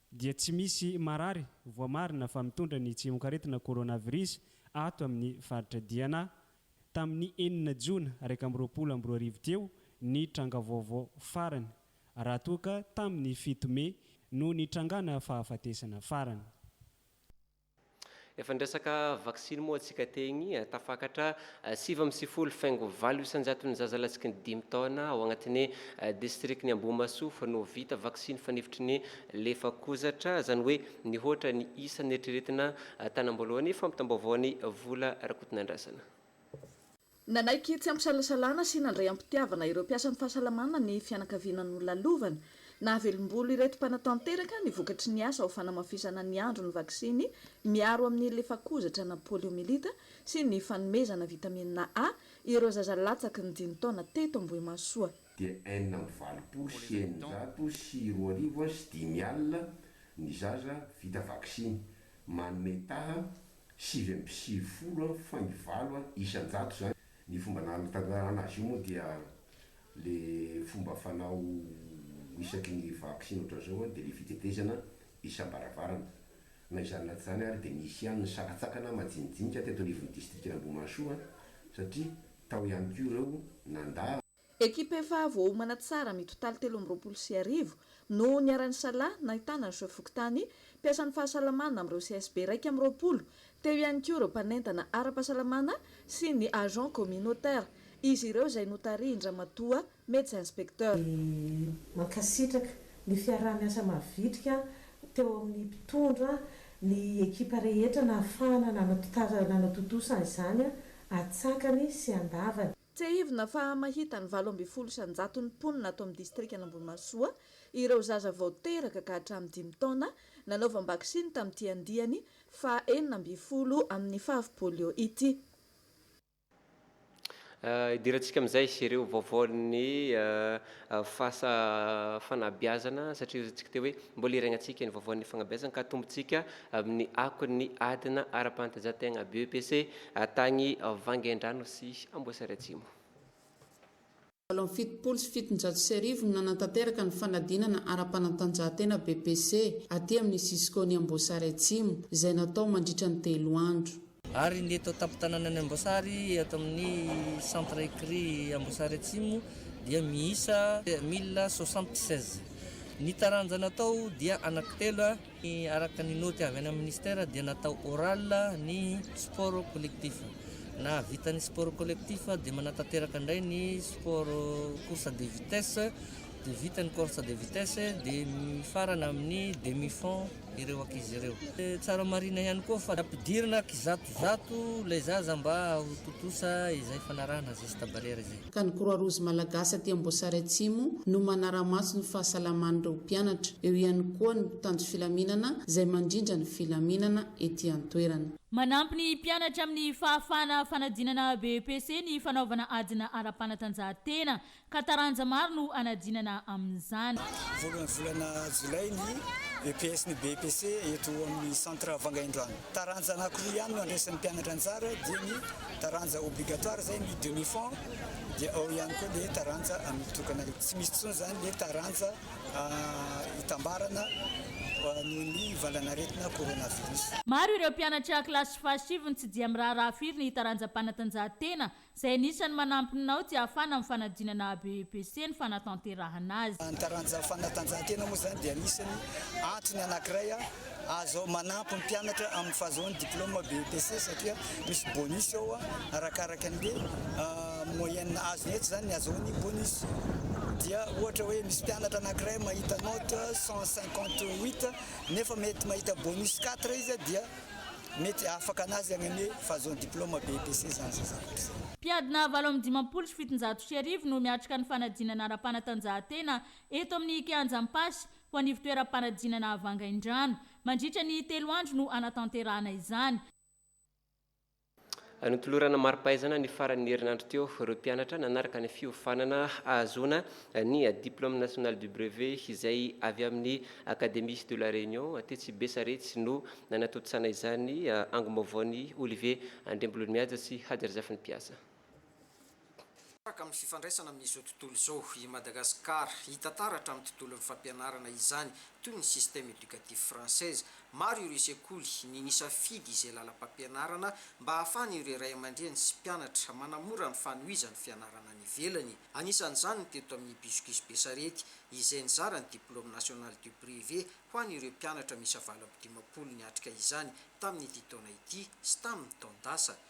dia tsy misy marary voamarina fa mitondra ny tsimokaretina coronavirus ato amin'ny faritra Diana. Tamin'ny enina jona iraika amby roapolo amby roa arivo teo ny tranga vaovao farany, raha toa ka tamin'ny fito mey no nitrangana fahafatesana farany. Efa niresaka vaksiny moa antsika teny, tafakatra sivy amby sifolo faingo valo isan-jaton'ny zaza lasky ny dimy taona ao agnatin'ny distrikan'i Ambohimahasoa fa no vita vaksiny fanefitry ny lefakozatra, izany hoe nihoatra ny isa neritreretina tanam-boalohany, fampitam-baovaon'i Vola Rakotonandrasana. Nanaiky tsy am-pisalasalana sy nandray am-pitiavana ireo mpiasan'ny fahasalamana ny fianakaviana nolalovana. Nahavelom-bolo ireto mpanatanteraka ny vokatry ny asa ho fanamafisana ny andron'ny vaksiny miaro amin'ny lefakozatra na poliomyelita sy ny fanomezana vitamina A ireo zaza latsaky ny dimy taona teto Ambohimahasoa. dia enina amby valopolo sy eninjato sy roa arivo sy dimy alina ny zaza vita vaksiny, manome taha sivy amby sivifolo an fa ny valo an isan-jato zany ny fomba nanatantarana azy io moa dia le fomba fanao isaky ny vaksiny ohatra zao an dia le fitetezana isam-baravarana na izany na tsy izany ary dia nisy ihany ny sakantsakana majinijinika teto anivon'ny distrikan'Ambohimahasoa satria tao ihany koa ireo nandà Ekipa efa voaomana tsara mitotaly telo amby roapolo sy arivo no niara-nisalahy nahitana ny Soa Fokontany, mpiasan'ny fahasalamana amin'ireo CSB iraika amby roapolo, teo ihany koa ireo mpanentana ara-pahasalamana sy ny agents communautaires, izy ireo izay notarihin-dRamatoa Médecin Inspecteur. Mankasitraka ny fiaraha-miasa mavitrika teo amin'ny mpitondra ny ekipa rehetra nahafahana nanatontosa izany atsakany sy andavany. Tsiahivina fa mahita ny valo ambin'ny folo isan-jaton'ny mponina ato amin'ny distrikan'Ambohimahasoa ireo zaza vao teraka ka hatramin'ny dimy taona nanaovam-baksiny tamin'ity andiany faha enina ambin'ny folo amin'ny fav polio ity. Hidirantsika amin'izay ireo vaovaon'ny. Fasa fanabiazana satria hozintsika teo hoe mbola hiregnantsika ny vaovaon'ny fagnabiazana ka tombontsika amin'ny akon'ny adina ara-panatanjahan-tegna BEPC tagny Vangaindrano sy Amboasary Atsimo. Valo amby fitopolo sy fitonjato sy arivo no nanatanteraka ny fanadinana ara-panatanjahan-tena BEPC aty amin'ny Cisco-n'i Amboasary Atsimo, izay natao mandritra ny telo andro. Ary ny eto an-tampon-tananan'i Amboasary, eto amin'ny Centre Ecri Amboasary Atsimo dia miisa mille soixante-seize. Ny taranja natao dia anankitelo, araka ny naoty avy any amin'ny Ministera dia natao oral ny sport collectif. Nahavita ny sport collectif dia manatanteraka indray ny sport course de vitesse, dia vita ny course de vitesse dia mifarana amin'ny demi-fond. ireo ankizy ireo. Tsara marina ihany koa fa ampidirina kizatozato ilay zaza mba ho tontosa izay fanarahana geste barrière izay. Ka ny Croix Rouge Malagasy aty Amboasary Atsimo no manara-maso ny fahasalaman'ireo mpianatra. Eo ihany koa ny mpitandro filaminana izay mandrindra ny filaminana ety an-toerana. Manampy ny mpianatra amin'ny fahafahana fanadinana BEPC ny fanaovana adina ara-panatanjahantena ka taranja maro no hanadinana amin'izany. Voalohan'ny volana jolay ny EPS ny BEPC eto amin'ny centre Vangaindrano. Taranja anankiroa ihany no handraisan'ny mpianatra anjara dia ny taranja obligatoire izay ny demi fond dia ao ihany koa ilay taranja mitokana ilay tsy misy intsony izany ilay taranja hitambarana noho ny valanaretina coronavirus. Maro ireo mpianatra kilasy fahasivy no tsy dia miraharaha firy ny taranjam-panatanjahantena Izay anisan'ny manampy ny nao tsy hahafana amin'ny fanadinana ABEPC ny fanatanterahana azy. Ny taranja fanatanjahantena moa izany dia anisan'ny antony anankiray azo manampy ny mpianatra amin'ny fahazoany diploma BEPC satria misy bonus ao arakaraka ny hoe moyenne azony etsy izany ny azahoany bonus. Dia ohatra hoe misy mpianatra anankiray mahita note cent cinquante huit nefa mety mahita bonus quatre izy dia mety afaka anazy agny anie fahazoany diploma BEPC zany zay zavatra zay. Mpiadina valo amby dimampolo sy fitonjato sy arivo no miatrika ny fanadinana ara-panatanjahantena eto amin'ny Kianja Ampasy ho an' ivontoeram-panadinana Vangaindrano. Mandritra ny telo andro no hanatanterahana izany. Notolorana mari-pahaizana ny faran'ny herinandro teo ireo mpianatra nanaraka ny fiofanana hahazoana ny Diplôme National du Brevet izay avy amin'ny Académie de la Réunion tetsy Besarety no nanatontosana izany angom-baovaon'i Olivier Andriambolonihaja sy Hajy Razafinimpiasa. Tahaka ny fifandraisana amin'izao tontolo izao i Madagasikara, hita taratra amin'ny tontolon'ny fampianarana izany, toy ny système éducatif française. Maro ireo sekoly ny nisafidy izay lalam-pampianarana mba hahafahan'ireo ray aman-dreny sy mpianatra manamora ny fanohizan'ny fianarana any ivelany. Anisan'izany ny teto amin'ny Buscus Besarety, izay nizara ny Diplôme National du Privé ho an'ireo mpianatra miisa valo amby dimampolo niatrika izany tamin'ity taona ity sy tamin'ny taon-dasa.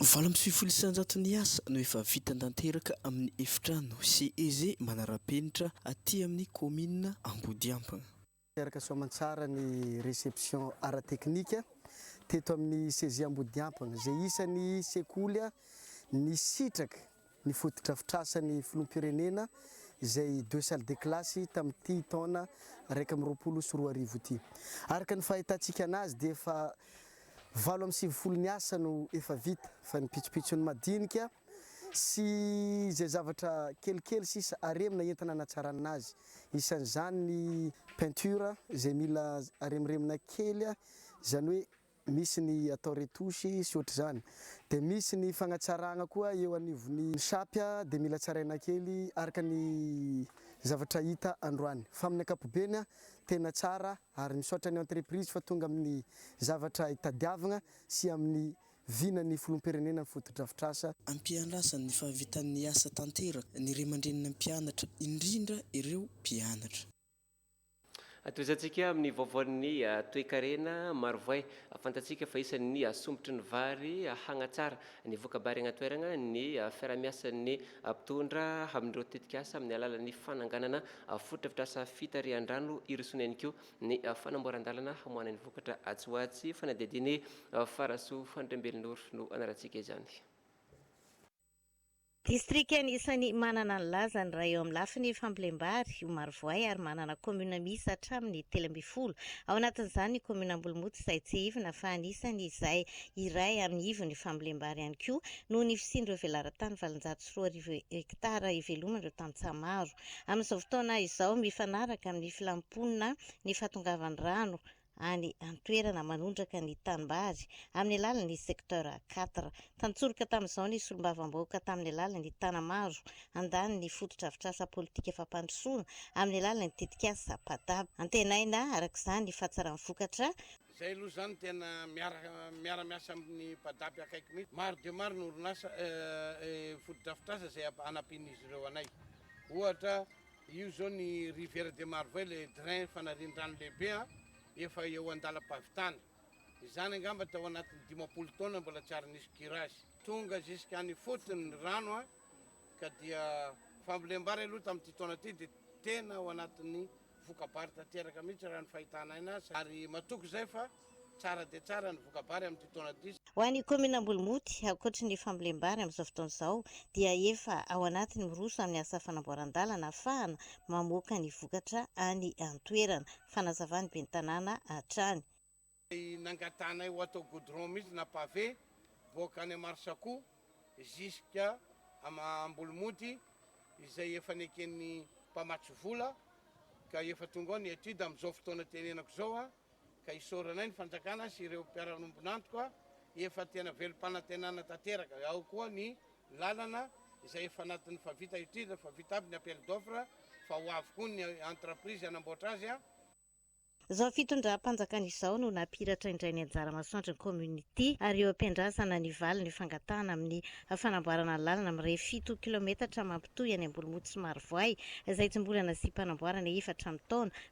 Valo amby sivifolo isanjato ny asa no efa vita tanteraka amin'ny efitrano CEG manara-penitra aty amin'ny kaominina Ambodiambana. Teraka soa aman-tsara ny reception ara-teknika teto amin'ny CEG Ambodiampana izay isan'ny sekoly nisitraka ny fotodrafitrasan'ny filoham-pirenena izay deux salles de classe tamin'ity taona iraika amby roapolo sy roa arivo ity. Araka ny fahitantsika anazy dia efa valo amby sivifolo ny asa no efa vita fa ny pitsopitsony madinika sy izay zavatra kelikely sisa aremina entina hanatsarana azy. Isan'izany ny peinture izay mila aremoremona kely izany hoe Misy ny atao retouche sy ohatr'izany. Dia misy ny fagnatsaragna koa eo anivon'ny shapy dia mila tsaraina kely araka ny zavatra hita androany. Fa amin'ny ankapobeny tena tsara ary misaotra ny entreprise fa tonga amin'ny zavatra itadiavagna sy amin'ny vinan'ny Filoham-pirenena ny fotodrafitrasa. Ampiandrasany ny fahavitan'ny asa tanteraka ny ray aman-drenin'ny mpianatra indrindra ireo mpianatra. Tohizantsika amin'ny vaovaon'ny toekarena marovoay. Fantatsika fa isan'ny sombitry ny vary hagnatsara ny voka-bary agny an-toeragna ny fiarahamiasan'ny mpitondra amin'ireo tetikasa amin'ny alalan'ny fananganana fotodrafitrasa fitarihan-drano hirosoana ihany koa ny fanamboaran-dalana hamoahana ny vokatra atsy ho atsy. Fanadihadian'i Farasoa Andriambelinoro no anarantsika izany. Distrika anisan'ny manana ny lazany raha eo amin'ny lafiny fambolem-bary io Marovoay ary manana kaominina miisa hatramin'ny telo ambin'ny folo, ao anatin'izany ny kaominina Ambolomota izay tsiahivina fa anisan' izay iray amin'ny ivon'ny fambolem-bary ihany koa noho ny fisian'ireo velaran-tany valonjato sy roa arivo hektara iveloman'ireo tantsaha maro amin'izao fotoana izao mifanaraka amin'ny filam-ponina ny fahatongavan'ny rano any an-toerana manondraka ny tanimbary amin'ny alalan'ny secteur quatre. Tantsoroka tamin'izao ny solombavambahoaka tamin'ny alalan'ny Tanamaro handany ny fotodrafitrasa politika fampandrosoana amin'ny alalan'ny tetikasa PADAB. Antenaina araka izany ny fahatsaran'ny vokatra. Izay aloha izany tena miara-miasa amin'ny PADAB akaiky mihitsy. Maro dia maro ny orinasa, fotodrafitrasa izay hanampian'izy ireo anay. Ohatra, Io zao ny rivière de Marvay ilay drain fanarian-drano lehibe an, efa eo an-dalam-pahavitana. Izany angamba tao anatin'ny dimampolo taona mbola tsy ary nisy curage. Tonga jusqu'any ifotony ny rano an, ka dia fambolem-bary aloha tamin'ity taona ity dia tena ao anatin'ny voka-bary tanteraka mihitsy raha ny fahitana aina, ary matoky izay fa. Tsara dia tsara ny voka-bary amin'ity taona ity. Ho an'ny kaominina Ambolimoty, ankoatry ny fambolem-bary amin'izao fotoana izao dia efa ao anatin'ny miroso amin'ny asa fanamboaran-dalana afahana mamoaka ny vokatra any an-toerana, fanazavan'ny ben'ny tanàna hatrany. Izay nangatahanay ho atao goudron mihitsy na pavé boaka any Amarsaco ziska Ambolimoty izay efa neken'ny mpamatsy vola ka efa tonga ao ny étude amin'izao fotoana tenenako izao. ka isaoranay ny fanjakana sy ireo mpiara-miombon'antoka efa tena velom-panantenana tanteraka, ao koa ny lalana izay efa anatin'ny fa vita étude, fa vita aby ny appel d'offre fa ho avy koa ny entreprise hanamboatra azy. Izao fitondram-panjakana izao no nampihiratra indray ny anjara masoandro ny community ary eo am-piandrasana ny valin'ny fangatahana amin'ny fanamboarana ny lalana mirefy fito kilometatra mampitohy any Ambolimoto sy Marovoay izay tsy mbola nasiam-panamboarana efatra amby taona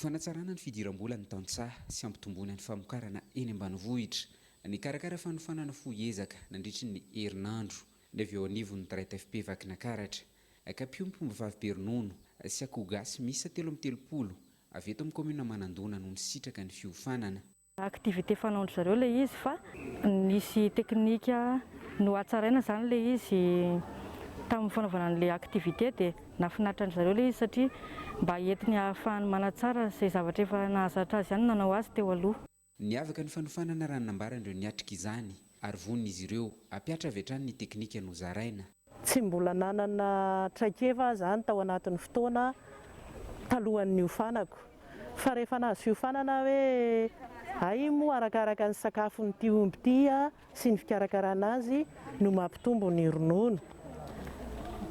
Fanatsarana ny fidiram-bolan'ny tantsaha sy hampitomboana ny famokarana eny ambanivohitra. Nikarakara fanofanana fohy ezaka nandritry ny herinandro ny avy eo anivon'ny Traite-FP Vakinakaratra, ka mpiombom-pombavavy be ronono sy akoho gasy miisa telo amby telopolo avy eto amin'ny kaominina Manandona no nisitraka ny fiofanana. activité fanaon-dry zareo ilay izy fa nisy teknika nohatsaraina izany ilay izy tamin'ny fanaovana an'ilay activité dia nahafinaritra an-dry zareo ilay izy satria mba entiny ahafahany manatsara izay zavatra efa nahazatra azy ihany ny nanao azy teo aloha. Niavaka ny fanofanana raha ny nambaran'ireo niatrika izany ary vonona izy ireo hampiatra avy hatrany ny teknika nozaraina. Tsy mbola nanana traikefa aho izany tao anatin'ny fotoana talohan'ny niofanako. Fa rehefa nahazo fiofanana aho hoe hay moa arakaraka ny sakafon'ity omby ity sy ny fikarakarana azy no mampitombo ny ronono.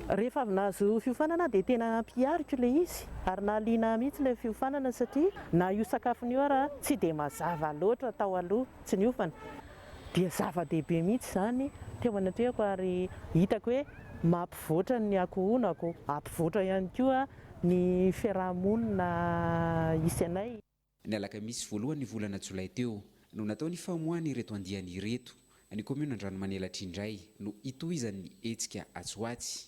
Rehefa avy nahazo fiofanana aho dia tena nampihariko ilay izy ary nahaliana ahy mihitsy ilay fiofanana satria na io sakafony io ara tsy dia mazava loatra tao aloha tsy niofana. Dia zava-dehibe mihitsy izany teo anatrehako ary hitako hoe mampivoatra ny ankohonako, hampivoatra ihany koa ny fiaraha-monina hisy anay. Ny alakamisy voalohan'ny volana jolay teo no natao ny famoahana ireto andiany ireto. Ny kaomiona Andranomanilatr'indray no hitohizan'ny hetsika atsy ho atsy.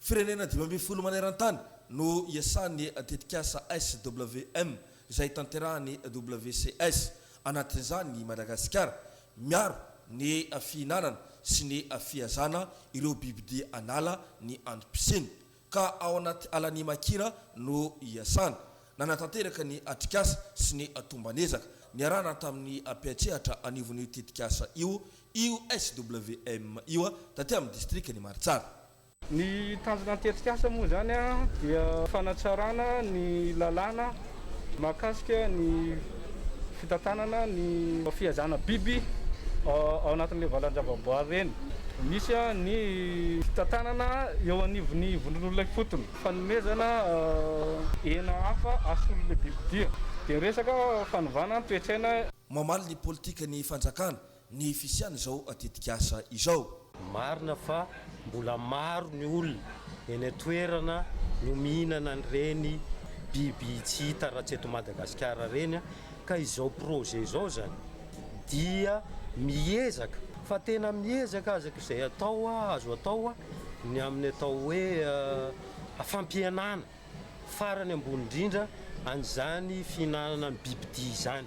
Firenena dimy ambin'ny folo maneran-tany no iasan'ny tetikasa SWM izay tanterahan'ny WCS, anatin'izany i Madagasikara. Miaro ny fihinanana sy ny fihazana ireo bibidia an'ala ny antom-pisiany, ka ao anaty alan'i Makira no iasana. Nanatanteraka ny atrikasa sy ny tomban'ezaka niarahana tamin'ny mpiantsehatra anivon'io tetikasa io Io SWM io taty amin'ny distrikan'i Maritsara. Ny tanjona ny tetikasa moa izany dia fanatsarana ny lalàna mahakasika ny fitantanana ny fihazana biby ao anatin'ireny valan-javaboary ireny misy ny fitantanana eo anivon'ny vondron'olona ifotony, fanomezana hena hafa hasolo ilay bibidia, dia ny resaka fanovana ny toe-tsaina. Mamaly ny politikan'ny fanjakana ny fisian'izao tetikasa izao. Marina fa mbola maro ny olona eny an-toerana no mihinana an'ireny biby tsy hita raha tsy eto Madagasikara ireny ka izao projet izao izany dia miezaka fa tena miezaka aza izay atao azo atao ny amin'ny atao hoe fampihenana farany ambony indrindra an'izany fihinanana ny bibidia izany.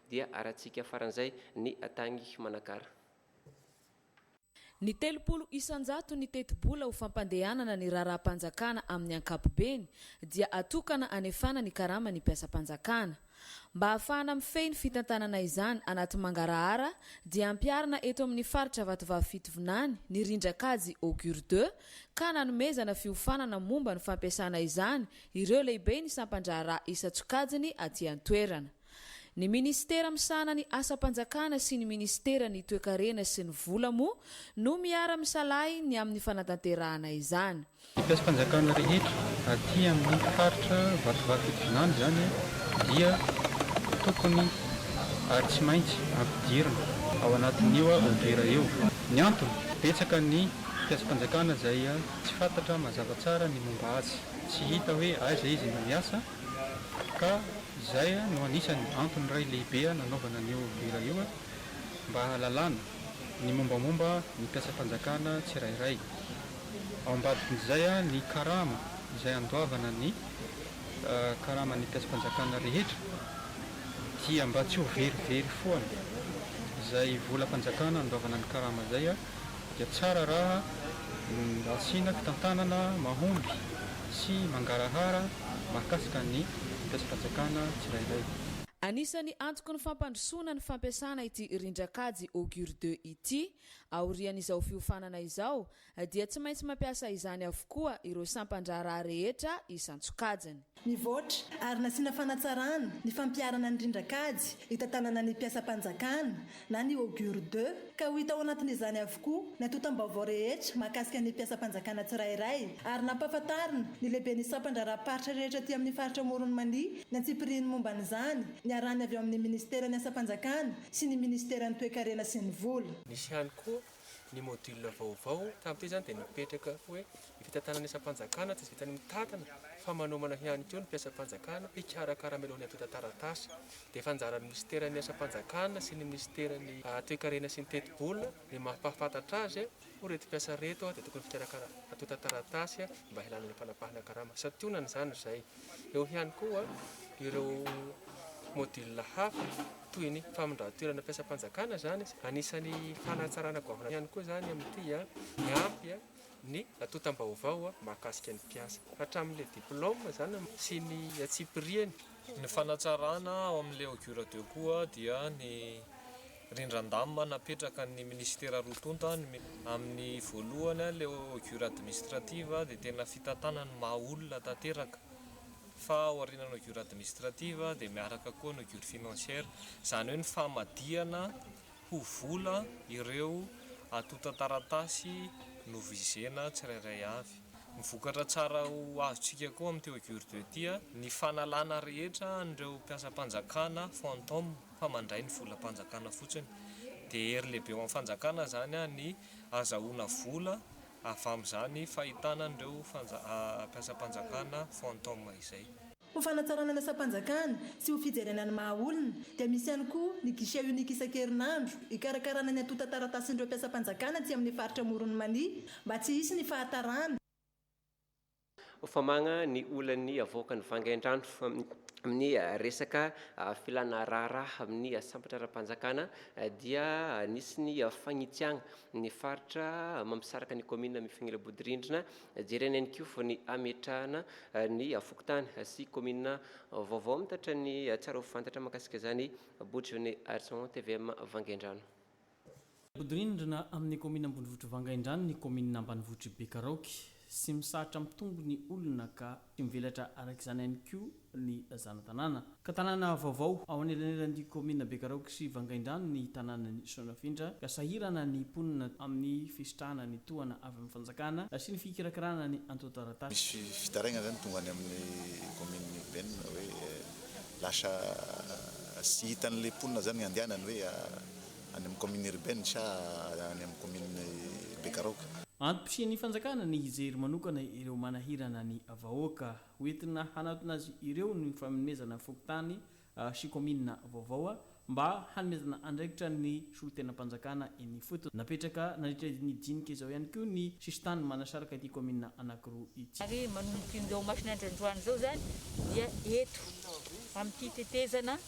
dia arahintsika faran'izay ny tagny Manakara. Ny telopolo isan-jato ny tetibola ho fampandehanana ny raharaham-panjakana amin'ny ankapobeny dia atokana anefana ny karama ny mpiasam-panjakana. Mba hahafahana mifehy ny fitantanana izany anaty mangarahara dia ampiharina eto amin'ny faritra Vatovavy Fitovinany ny rindran-kajy Augure deux ka nanomezana fiofanana momba ny fampiasana izany ireo lehiben'ny sampan-draharaha isan-tsokajiny aty an-toerana. Ny minisitera misahana ny asam-panjakana sy ny minisiteran'ny toekarena sy ny vola moa no miara-misalahy ny amin'ny fanatanterahana izany. Ny mpiasam-panjakana rehetra aty amin'ny faritra Vatovavy Fitovinany izany dia tokony ary tsy maintsy ampidirina ao anatin'io ODIHR io. Ny antony, betsaka ny mpiasam-panjakana izay tsy fantatra mazava tsara ny momba azy, tsy hita hoe aiza izy no miasa, Ka izay no anisan'ny antony iray lehibe nanaovana an'io hira io mba hahalalana ny mombamomba ny mpiasam-panjakana tsirairay. Ao ambadikin'izay ny karama izay andoavana ny karaman'ny mpiasam-panjakana rehetra dia mba tsy ho verivery foana izay volam-panjakana andoavana ny karama izay. dia tsara raha asiana fitantanana mahomby sy mangarahara mahakasika ny tetikasam-panjakana tsirairay. Anisan'ny antoky ny fampandrosoana ny fampiasana ity rindran-kajy Augure deux ity. Aorian'izao fiofanana izao dia tsy maintsy mampiasa izany avokoa ireo sampan-draharaha rehetra isan-tsokajiny. Nivoatra ary nasiana fanatsarana ny fampiharana ny rindran-kajy hitantanana ny mpiasam-panjakana na ny Augure ii ka ho hita ao anatin'izany avokoa ny antontam-baovao rehetra mahakasika ny mpiasam-panjakana tsirairay ary nampahafantarina ny lehiben'ny sampan-draharaham-paritra rehetra aty amin'ny faritra Amoron'i Mania ny antsipirihiny momba an'izany niarahany avy ao amin'ny minisiteran'ny asam-panjakana sy ny minisiteran'ny toekarena sy ny vola. Nisy ihany koa ny module vaovao tamin'ity izany dia nipetraka hoe ny fitantanana isam-panjakana tsy vitan'ny mitantana fa manomana ihany koa ny mpiasam-panjakana hikarakara mialoha ny hampita taratasy dia efa anjaran'ny minisiteran'ny asam-panjakana sy ny minisiteran'ny toekarena sy ny tetibola ny mampahafantatra azy ho reto mpiasa reto dia tokony fikarakara hatonta taratasy mba hialana ny fanapahana karama santionana izany izay Eo ihany koa ireo module hafa toy ny famindran-toerana mpiasam-panjakana izany, anisan'ny fanatsarana goavana ihany koa izany amin'ity hiampy ny antontam-baovao mahakasika ny mpiasa hatramin'ilay diploma izany sy ny antsipiriany. Ny fanatsarana ao amin'ny Leoguir Deco dia ny. Rindran-damina napetrakan' ny minisitera roa tonta ny amin' ny voalohany a leo gure administrative dia tena fitantanana ny maha olona tanteraka fa ao aorianan' ny gure administrative dia miaraka koa ny gure financière izany hoe ny famadihana ho vola ireo antontan-taratasy novizena tsirairay avy. Ny vokatra tsara ho azontsika koa amin' ity gure deux ity a ny fanalana rehetra an' ireo mpiasam-panjakana fantômes. fa mandray ny volam-panjakana fotsiny. Dia hery lehibe ho an'ny fanjakana izany ny azahoana vola avy amin'izany fahitana an'ireo mpiasam-panjakana fantôme izay. Ho fanatsarana ny asam-panjakana sy ho fijerena ny maha olona dia misy ihany koa ny guichet unique isan-kerinandro hikarakarana ny antontan-taratasin'ireo mpiasam-panjakana aty amin'ny faritra Amoron'i Mania mba tsy hisy ny fahatarana Ho famagna ny olan'ny havoakan'ny vangaindrano amin'ny resaka filàna raharaha amin'ny sambatra ara-panjakana dia nisy ny fagnitsiagna ny faritra mampisaraka ny kaominina Mifinila Bodirindrina. Jerena ihany koa ny hametrahana ny fokontany sy kaominina vaovao. Mitatra ny tsara ho fantatra mahakasika izany Bojone Arison, tvm Vangaindrano. Mihodinrindrina amin'ny kaominina ambonivohitr'i Vangaindrano ny kaominina ambanivohitr'i Bekaraoky. Tsy misahatra mitombo ny olona ka tsy mivelatra araka izany ihany koa ny zana-tanàna. Ka tanàna vaovao ao anelanelan'ny kaominina Bekaraoky sy Vangaindrano ny tanànan'i Soanafindra ka sahirana ny mponina amin'ny fisitrahana ny tohana avy amin'ny fanjakana sy ny fikirakirana ny antontan-taratasy. Misy fitarainana izany tonga any amin'ny kaominina urbaine hoe lasa tsy hitan'ilay mponina izany ny andehanany hoe. any amin'ny commune urbaine sa any amin'ny commune Bekaraoka. Antom-pisian'ny fanjakana ny hijery manokana ireo manahirana ny vahoaka. Hoentina hanatona azy ireo ny fanomezana fokontany sy kaominina vaovao mba hanomezana andraikitra ny solontenam-panjakana eny ifotony. Napetraka nandritra ny dinika izao ihany koa ny sisintany manasaraka ity kaominina anankiroa ity. Ary manomboka indao masina androandroany izao izany dia eto amin'ity tetezana.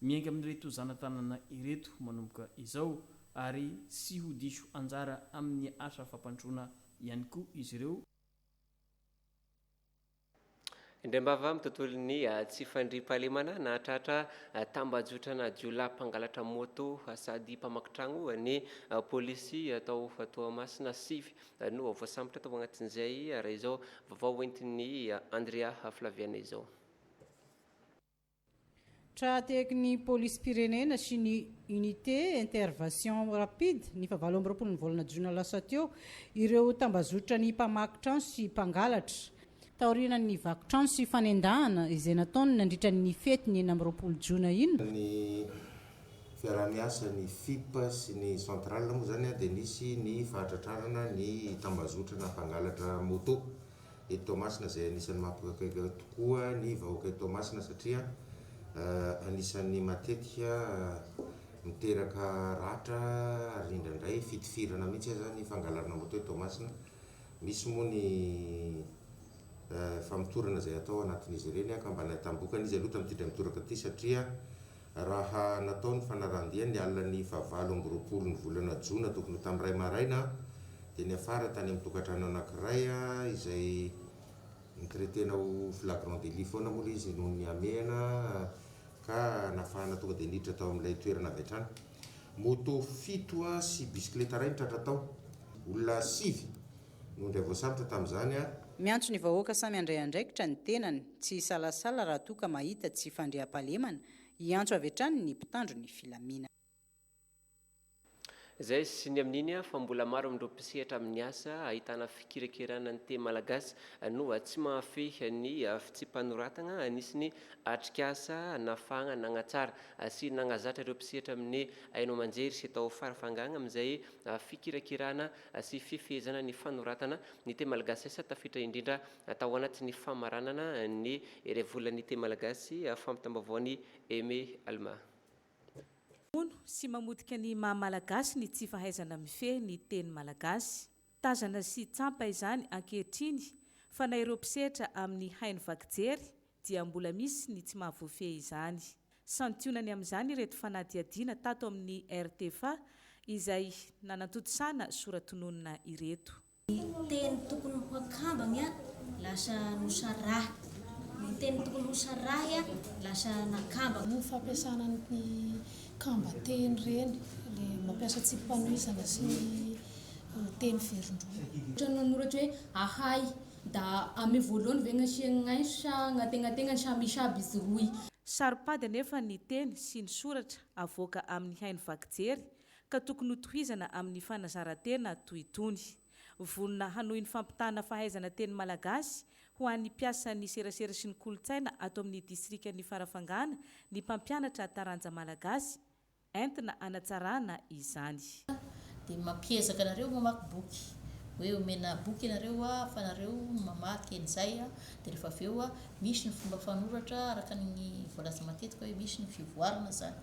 Miainga amin'ireto zana-tanana ireto manomboka izao ary tsy ho diso anjara amin'ny asa fampandrosoana ihany koa izy ireo. Indram-bava amin'ny tontolon'ny tsy fandriampahalemana, nahatratra tambajotranà jiolahy mpangalatra moto sady mpamaky tragno ny polisy tao Toamasina. Sivy no voasambotra tao agnatin'izay, raha izao vavao hoentin'i Andrea Flaviana izao. Tra-tehaky ny Polisim-pirenena sy ny Unité Intervation Rapide ny fahavalo amby roapolon'ny volana jona lasa teo ireo tambazotran'ny mpamaky trano sy mpangalatra, taorian'ny vaky trano sy fanendahana izay nataony nandritra ny fety ny enina amby roapolo jona iny. Ny fiaraha-miasa ny Fip sy ny Central moa izany dia nisy ny fahatratrarana ny tambazotrana mpangalatra moto eto Toamasina izay anisan'ny mampikaikaika tokoa ny vahoaka eto Toamasina satria anisan'ny matetika miteraka ratra ary indraindray fitifirana mihitsy aza ny fangalarana moto eto Toamasina. Misy moa ny famotorana izay atao anatin'izy ireny ka mba nahitambokana izy aloha tamin'ity dra mitoraka ity satria Raha natao ny fanarahan-dia ny alin'ny fahavalo amby roapolo ny volana jona tokony ho tamin'ny iray maraina dia niafara tany amin'ny tokantrano anankiray izay nitretena ho flagrant délit foana moa ilay izy noho ny hamehana ka nafahana tonga dia niditra tao amin'ilay toerana avy hatrany moto fito sy bisikileta iray nitratra tao. Olona sivy. no dia voasambotra tamin'izany ary. Miantso ny vahoaka samy handray andraikitra ny tenany, tsy hisalasala raha toa ka mahita tsy fandriampahalemana, hiantso avy hatrany ny mpitandro ny filaminana. Izay sy ny amin'iny fa mbola maro amin'ireo mpisehatra amin'ny asa ahitana fikirakirana ny teny malagasy no tsy mahafehy ny fitsipa-noratana nisy ny atrikasa nafahana nanatsara sy nanazatra ireo mpisehatra amin'ny haino aman-jery sy tao fara fahangana amin'izay fikirakirana sy fifehezana ny fanoratana ny teny malagasy asa tafitra indrindra tao anaty ny famaranana ny heriavolan'ny teny malagasy, fampitam-baovaon'i Aimé Alma. Mamono sy mamotika ny maha malagasy ny tsy fahaizana mifehy ny teny malagasy. Tazana sy tsampa izany ankehitriny fa na ireo mpisetra amin'ny haino vaky jery dia mbola misy ny tsy mahavoafehy izany. Santionany amin'izany ireto fanadihadiana tato amin'ny RTFA izay nanatontosana soratononina ireto. Ny teny tokony ho akambany lasa nosarahy. Ny teny tokony ho sarahy lasa nakambana. Ny fampiasana ny kamban-teny ireny, ilay mampiasa tsipi-panohizana sy ny teny verindroa. Ohatra ny manoratra hoe ahay. Da ame voalohany ve gn'asiagny gnaiso sa gn'ategnategnany sa misy aby izy roy? Saro-pady anefa ny teny sy ny soratra avoaka amin'ny haino vaky jery ka tokony ho tohizana amin'ny fanazaran-tena toy itony. Vonona hanohy ny fampitàna fahaizana teny malagasy ho an'ny mpiasan'ny serasera sy ny kolontsaina ato amin'ny distrikan'i Farafangana ny mpampianatra taranja malagasy, Entina hanatsarana izany. Dia mampiezaka anareo mamaky boky. Hoe omena boky ianareo fa nareo mamaky an'izay dia rehefa avy eo misy ny fomba fanoratra araka ny voalaza matetika hoe misy ny fivoarana izany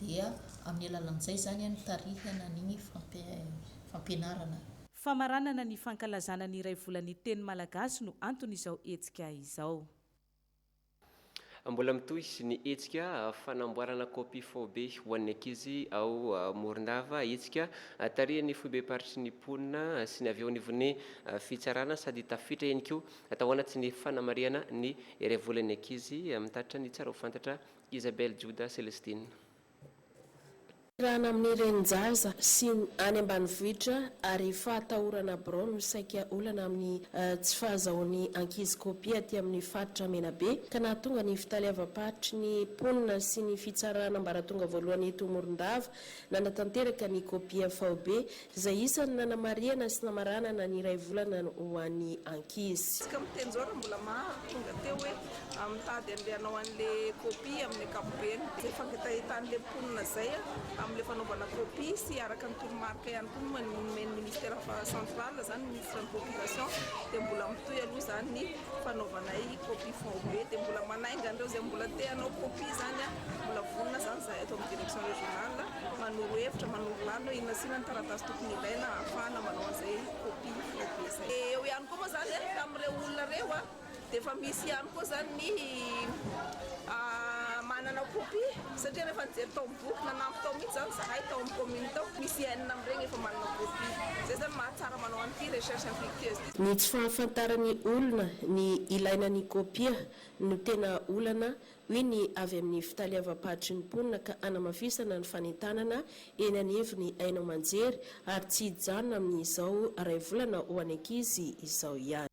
dia amin'ny alalan'izay izany nitarihana an'iny fampianarana. Famaranana ny fankalazana ny iray volan'ny teny malagasy no anton'izao hetsika izao. Mbola mitohy ny hetsika fanamboarana kopia faobe ho an'ny ankizy ao Morondava, hetsika tarihan'ny foibem-paritry ny mponina sy ny avy eo anivon'ny fitsarana sady tafiditra ihany koa tao anaty ny fanamarihana ny iray volan'ny ankizy amin'ny tatitra ny tsara ho fantatra Isabelle Joda Celestine. Tanterahana amin'ny renin-jaza sy ny any ambanivohitra ary fahatahorana birao no saika olana amin'ny tsy fahazahoan'ny ankizy kopia aty amin'ny faritra Menabe ka nahatonga ny fitaleavam-paritry ny mponina sy ny fitsarana ambaratonga voalohany eto Morondava nanatanteraka ny kopia faobe Izay isany nanamarihana sy namaranana ny iray volana ho an'ny ankizy. Tsika mitenjora mbola maro tonga teo hoe mitady an'le hanao an'le copie amin'ny ankapobeny. Izay fangitahitan'le mponina izay amin'le fanaovana copie sy araka ny toromarika ihany koa no nomen'ny ministera central izany ny ministre ny population dia mbola mitohy aloha izany ny fanaovanay copie faobe dia mbola manainga an'ireo izay mbola te hanao copie izany mbola vonona izany izahay eto amin'ny direction régionale Manoro hevitra, manoro lalina hoe inona sy inona ny taratasy tokony ilaina hahafahana manao an'izay kopia lehibe izay. Dia eo ihany koa moa izany an, tamin'ireo olona ireo an, dia efa misy ihany koa izany ny manana kopia, satria rehefa nijery tao amin'ny boky, nanampy tao mihitsy izany izahay tao amin'ny kaominina tao, misy enina amin'ireny efa manana kopia. Izay izany no mahatsara manao an'ity recherche infructueuse ity. Ny tsy fahafantaran'ny olona ny ilaina ny kopia no tena olana hoy ny avy amin'ny fitaleavam-paritry ny mponina ka hanamafisana ny fanentanana eny anivon'ny haino aman-jery ary tsy hijanona amin'izao iray volana ho an'ny ankizy izao ihany.